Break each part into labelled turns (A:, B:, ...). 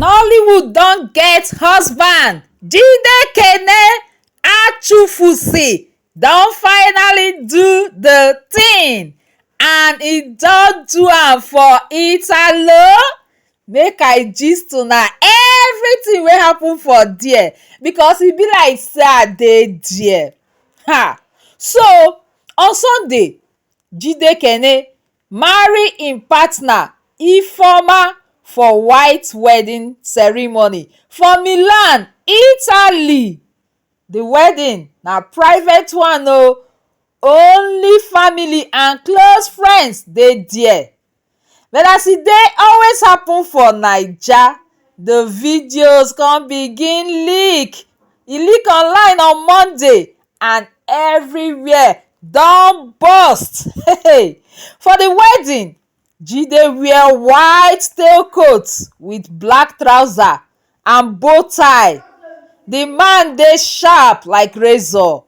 A: nollywood don get husband jide kene achufusey don finally do di tin and e don do am for italo make i gist una everytin wey happen for there because e be like say i dey there um so on sunday jide kene marry im partner Ifeoma for white wedding ceremony for Milan, Italy. The wedding na private one o, only family and close friends dey there. But as e dey always happen for Naija, the videos con begin leak. E leak online on Monday and everywhere don burst for the wedding jide wear white tail coat with black trouser and bow tie the man dey sharp like razor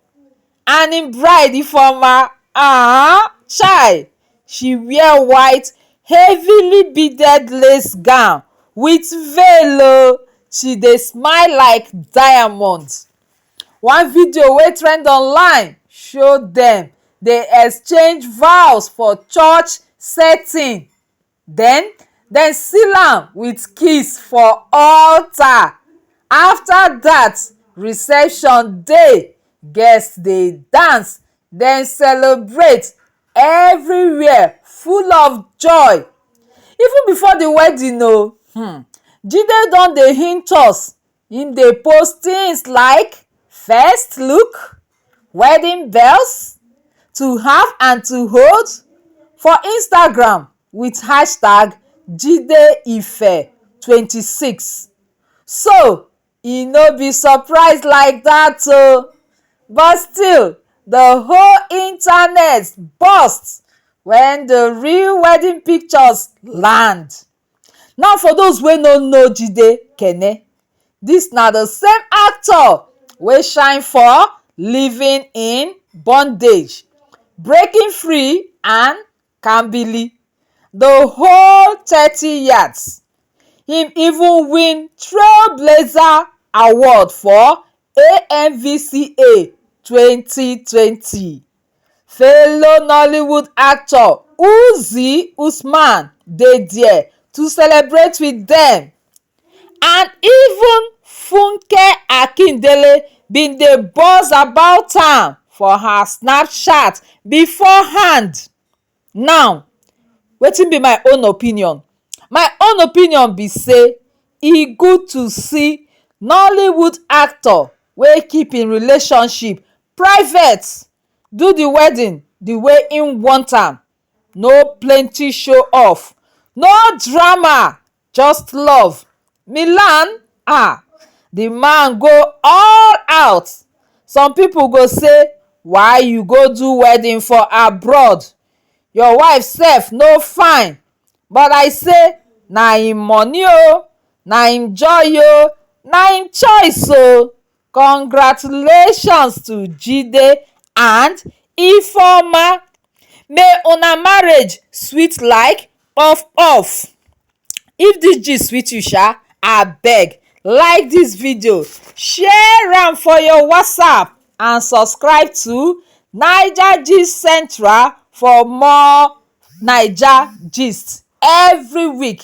A: and him bride ifeoma um chai she wear white heavily beaded lace gown with veil o she dey smile like diamond One video wey trend online show dem dey exchange vows for church setting then dem seal am with kiss for alter after that reception dey guest dey dance dem celebrate everywhere full of joy even before the wedding oo jide don dey hint us Im dey post things like first look, wedding bells, to have and to hold for Instagram with hashtag JideIfe twenty six so e no be surprise like that oo but still the whole internet burst when the real wedding pictures land. Now for those wey no know Jide Kene, this na the same actor wey shine for Living in Bondage, Breaking Free and Kambili, the whole thirty yards. Him even win Trailblazer Award for AMVCA twenty twenty. Fellow Nollywood actor Uzi Usman dey there to celebrate with dem and even Funke Akindele bin dey buzz about am for her Snapchat beforehand. Now wetin be my own opinion my own opinion be say e good to see nollywood actor wey keep him relationship private do the wedding the way him want am no plenty show off no drama just love milan ah the man go all out some people go say why you go do wedding for abroad your wife self no fine but i say na him money oo na him joy oo na him choice oo Congratulations to Jide and Ifeoma may una marriage sweet like puff puff. If dis gist sweet you sha abeg like dis video, share am for your whatsapp and subscribe to Naija gist central for more Naija gist every week.